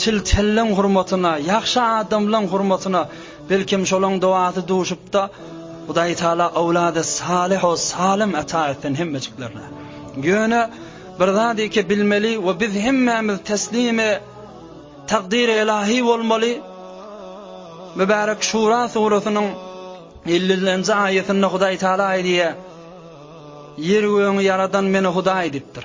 Çil-çelleň hurmatyna, ýagşy adamlaň hurmatyna, belkem şolaň dowasy duşupda, Hudaý Taala owlady salyho salym ata etsin hemmejiklerine. Ýöne bir zadyke bilmeli we biz hemmämiz teslimi takdyry ylahy bolmaly. Mübärek Şura surasynyň ellinji aýatynda Hudaý Taala aýdýar, Ýeri-gögi ýaradan Meni Hudaý diýipdir.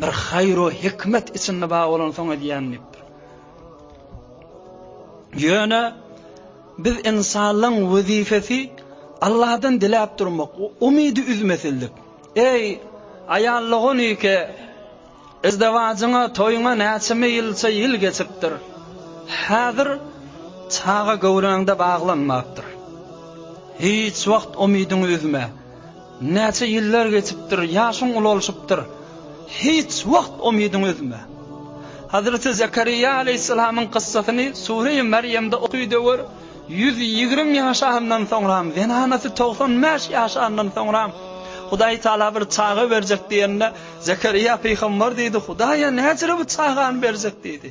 Bir haýro hikmet içinde bar bolansoň edýän diýipdir. Ýöne biz insanlaryň wezipesi Allahdan diläp durmak, umydy üzmesinlik. Eý, aýallygyň ýeke izdewazyňa, toýuňa näçe ýylça ýyl geçipdir. Häzir çaga göwräňde baglanmapdyr. Hiç wagt umydyňy üzme. Näçe ýyllar geçipdir, ýaşyň ulalşypdyr. Hiç wagt umydyňy üzme. Hazreti Zekeriýa alaýhyssalamyň kyssasyny Sureýi Merýemde okyda gör, ýüz ýigrimi ýaşanyndan soňram, zenanasy togsan bäş ýaşanyndan soňram, Hudaý Taala bir çaga berjek diýende, Zekeriýa pygamber diýdi, Hudaýa näcire bu çagany berjek diýdi.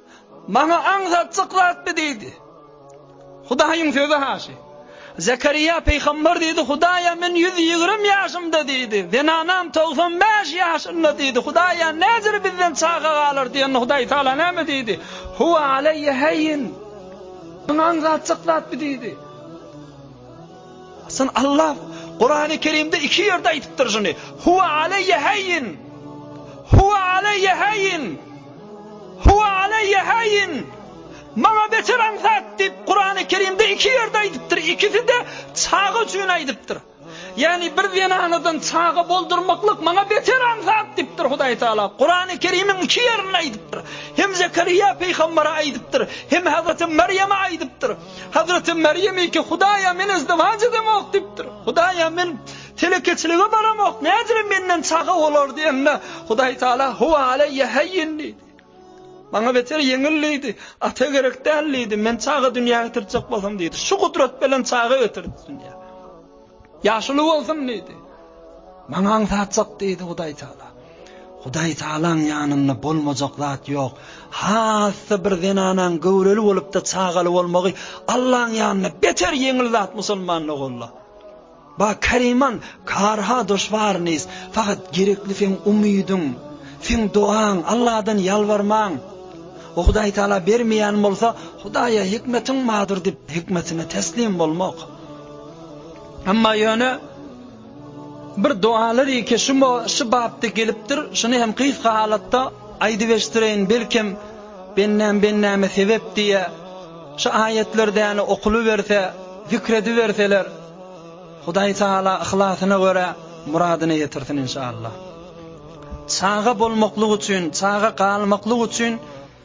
Maňa aňsatjak zatmy diýdi. Hudaýyň sözi haşy. Zekarýa pygamber diýdi, Hudaýa men ýüz ýigrimi ýaşymda diýdi. Zenanam togsan bäş ýaşynda diýdi. Hudaýa nädür bizden çaga galar diýende Hudaý Taala näme diýdi? Huwa aleýe heýin. Maňa aňsatjak zatmy diýdi. Syn Allah Kurany Kerimde iki ýerde aýdypdyr şuny. Huwa aleýe haýin. Huwa aleýe haýin. Huwa aleýe haýin. Maňa beter aňsat diýip Kurany Kerimde iki ýerde aýdypdyr. Ikisi de çaga üçin aýdypdyr. Ýani bir zenanadan çaga boldurmaklyk maňa beter aňsat diýipdir Hudaý Taala. Kurany Kerimiň iki ýerinde aýdypdyr. Hem Zekeriýa peýgambere aýdypdyr, hem Hazreti Merýeme aýdypdyr. Hazreti Meryem iki Hudaýa men izdiwaç edemok diýipdir. Hudaýa men telekeçilige baramok, nädire menden çaga bolar diýende, Hudaý Taala huwa aleýe heýin diýdi. Maňa beter ýeňil diýdi. Ata gerek däl diýdi. Men çaga dünýä getirjek bolsam diýdi. Şu gudrat bilen çaga getirdi dünýä. Ýaşuly bolsun diýdi. Maňa aňsatjak diýdi Hudaý Taala. Hudaý Taalaň ýanynda bolmajak zat ýok. Hasda bir zenanaň göwreli bolupda çagaly bolmagy Allaň ýanynda beter ýeňil zat musulmanda golla. Ba Kariman karha doşwarnis, fakat gerekli sen umydyň, sen dogaň, Allahdan ýalbarmaň. O Hudaý Taala bermeýän bolsa, Hudaýa hikmetiň madur dip hikmetine teslim bolmak. Amma ýöne bir dogalar ýeke şu şu bapda gelipdir. Şuny hem gysga halatda aýdyp eşdireýin. Belkem bendäm bendäme sebep diýe. Şu aýatlar däne okuly berse, zikr edip berseler. Hudaý taala yhlasyna görä muradyny ýetirsin inşallah. Çaga bolmaklyk üçin, çaga galmaklyk üçin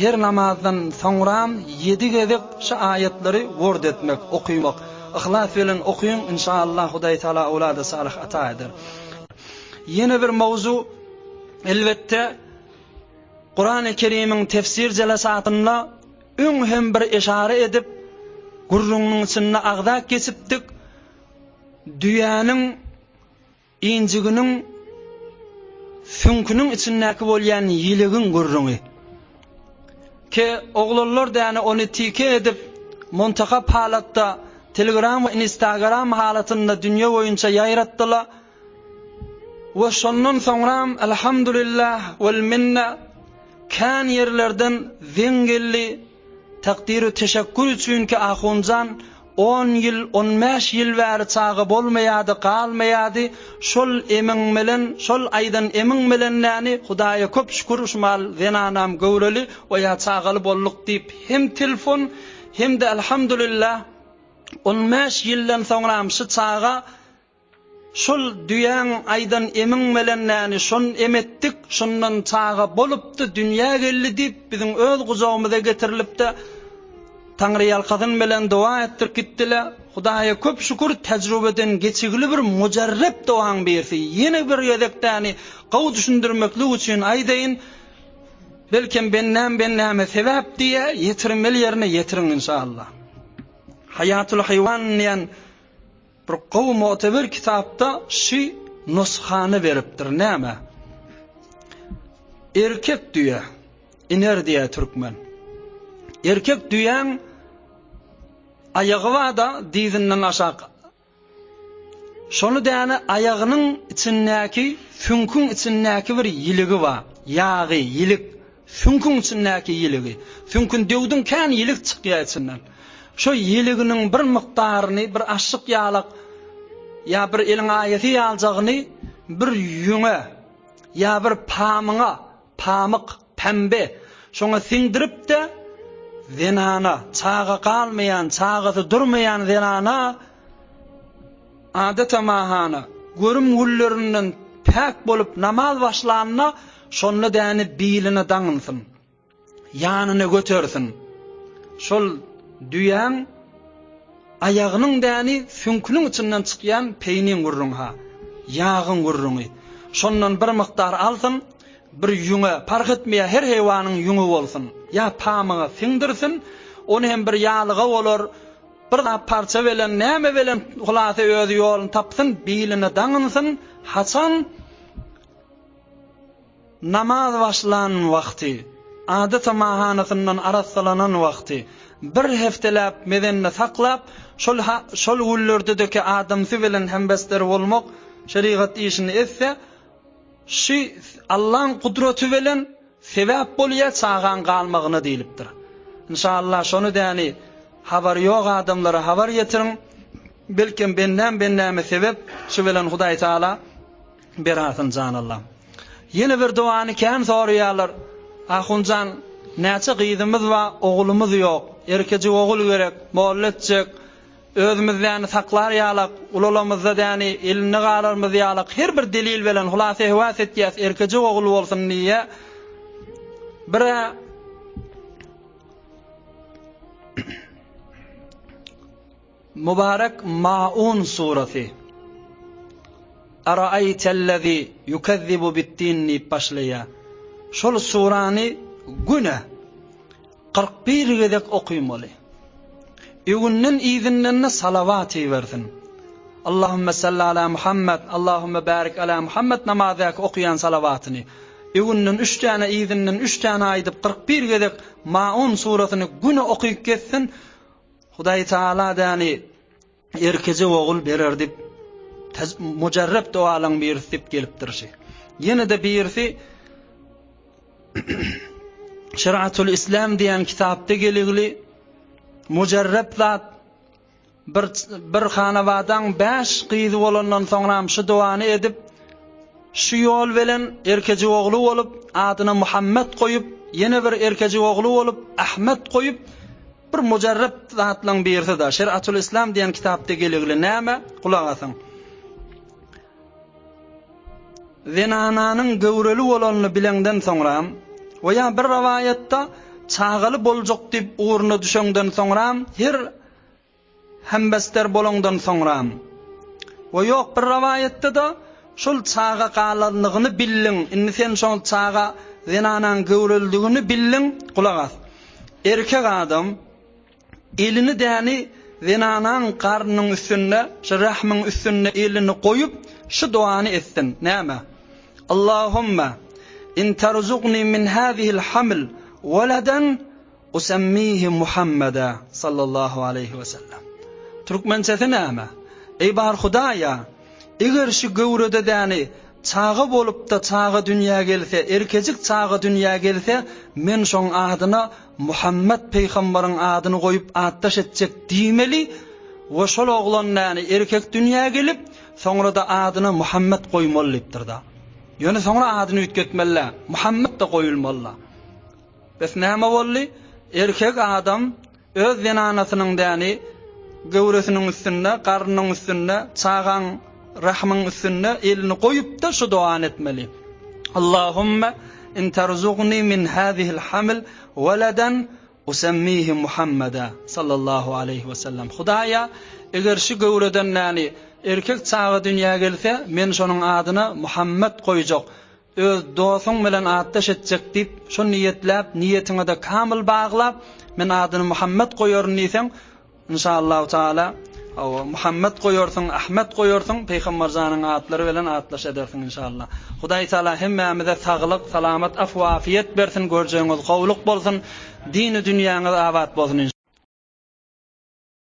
Her namazdan soňram ýedi gezek şu aýatlary word etmek, okymak. Yhlas bilen okyň, inşaallah Hudaý Taala owlady salyh ata eder. Ýene bir mowzu, elbetde, Kurany Kerimiň tefsir jelasatynda öň hem bir eşara edip, gürrüňiň içinde agzap geçipdik. Düýäniň Injiginiň süňküniň içindäki bolýan ýilegiň gürrüňi. Ke, oglanlar däne ony tike edip, muntakap halatda Telegram we Instagram halatynda dünýe boýunça ýaýratdyla we şondan soňram Alhamdulillah wal minna kän ýerlerden zeň geldi, Takdyry teşekkür üçinki Ahunjan on ýyl, on bäş ýyl bäri çaga bolmaýady, galmaýady, şol emiň bilen, şol aýdan emiň bilen näni, Hudaýa köp şükür, şu mal zenanam göwreli we ýa çagaly bolduk diýip hem telfon, hem-de Elhamdulillah, on bäş ýyldan soňram şu çaga, Şol düýäň aýdan emiň melen näni şon em etdik, şondan çaga bolupdy, dünýä geldi diýip, biziň öz gujagymyza getirilipdi. Taňryýalkasyn melen doga etdirip gitdiler. Hudaýa köp şükür, tejrübeden geçigili bir mujarrep dogaň birisi. Ýene bir gezek däni gowy düşündirmeklik üçin aýdaýyn, belkem bendäm bendäme sebäp diýýä, ýetirmeli ýerine ýetiriň inşallah. Haýatul haýwan diýen Bir gowy mogteber kitapda şy nusgany beripdir näme erkek düýe iner diýä türkmen erkek düýäň aýagy bada dizinden aşak şony däne aýagynyň içindäki süňküň içindäki bir ýiligi bar ýagy ýilik Süňküň içindäki ýiligi. Süňkün döwdüň kän ýilik çykýar içinden. Şo ýiliginiň bir mukdaryny bir aşşyk ýalak ýa bir eliň aýasy ýaljagyny bir ýüňe ýa bir pamyňa, pamyk, pämbe, şoňa siňdirip-de zenana, çaga galmaýan, çagasy durmaýan zenana adatamaha görüm güllerinden päk bolup namaz başlanda Şonda däni biline daňynsyn. Ýanyna götersin. Şol düýäň aýagynyň däni süňküniň içinden çykýan peýniň gürrüňi ha. Ýagyň gürrüňi. Şondan bir mukdar alsyn, bir ýüňe, parh etmeýär, her heýwanyň ýüňi bolsun. Ýa pamyga siňdirsin, ony hem bir ýalyga bolar, bir zat parça belen, näme belen, hulasa özi ýoluny tapsyn, biline daňynsyn, haçan Namaz başlan wagty, adat-a mahanasyndan arassalanan wagty, bir hefteläp mezende saklap, şol şol günlerdedeki adamsy bilen hemdesder bolmak, şerigat işini etse, şü Allaň gudraty bilen sebäp bolýar çagaň galmagyna diýlipdir. Inşallah şony däni habary ýok adamlara habar ýetiriň. Belkem bendäm bendäme sebep, şu bilen Hudaý Taala berarsin jan Allam. Ýene bir dowany kän soraýarlar Ahunjan näçe gyzymyz ba ogulymyz ýok erkejik ogul gerek molla etjek özümiz däni saklar ýalak ulalamyzda däni elinde galarmyz ýalak her bir delil belen hulasa hewas etýäs erkejik ogul bolsun diýe bir Mubarek Maun surasy. Araaytellezî yukezzibu biddîn diýip başlaýar. Şol surany güne kyrk bir gezek okymaly. Öwünden yzyndan-da salawat ibersin. Allahümme salli ala Muhammed, Allahümme barik ala Muhammed namazdaky okaýan salawatyny. Öwünden üç täne, yzyndan üç täne aýdyp kyrk bir gezek Maun surasyny güne okyp gezsin. Hudaý Taala Adäni erkeje ogul berer diýip, mujarrep dowalaň birisi diýip gelipdir şi. Ýene-de birisi Şeriatul İslam diýen kitapda geligli mujarrep zat bir bir hanawadaň 5 gyzy bolandan soňra hem şu dowany edip şu ýol bilen erkeji ogly bolup adyna Muhammed goýup ýene bir erkeji ogly bolup Ahmet goýup Bir mujarryp zatlaň birisi-de, Şeriatul Islam diýen kitapda geligli näme? Gulak asyň. Zenananyň göwreli bolanyny bilenden soňra, we ýa bir rowaýatda çagaly boljak diýip ugruna düşenden soňra her Hembester bolandan soňra. We ýok, bir rowaýatda-da şol çaga galanlygyny bildiň, indi sen şol çaga zenanaň göwrelidigini bildiň, gulak as. Erkek adam elini däli zenanaň garnynyň üstünde, şu rähmiň üstünde elini goýup, şu doany etsin, näme? Allahumma in tarzugni min hazihil haml waladan, Usemmihi Muhammeda sallallahu aleýhi we sellem. Türkmençesi näme? Eý bar Hudaýa, eger şu göwrede däni çaga bolupda çaga dünýä gelse, erkejik çaga dünýä gelse, men şoň adyna Muhammet peýhamberiň adyny goýup atdaş etjek diýmeli we şol oglan däni erkek dünýä gelip, soňra-da adyna Muhammet goýmaly diýipdir-da. Ýöne soňra adyny üýtgetmeli-dä, Muhammet-de goýulmaly-da. Bes näme boldy? Erkek adam öz zenanasynyň däni göwresiniň üstünde, garnyň üstünde, çagaň rahmyň üstünde elini goýup-da şu doany etmeli. Allahumma in tarzugni min hazihil haml waladan usammihi Muhammada sallallahu aleýhi we sellem. Hudaýa, eger şu göwreden däni erkek çaga dünýä gelse, men şonuň adyna Muhammet goýjak. Öz dosuň bilen atdaş etjek diýip, şony niýetläp, niýetiňe-de kamyl baglap, men adyny Muhammet goýaryn diýseň, Inşaallahu taala, hawa, Muhammet goýarsyň, Ahmet goýarsyň, Pygamber janyň atlary bilen atdaş edersiň inşaalla. Hudaý taala hemmämize saglyk, salamat, afwa-afiýet bersin, görjegiňiz gowulyk bolsun, dini dünýäňiz abat bolsun inşaalla.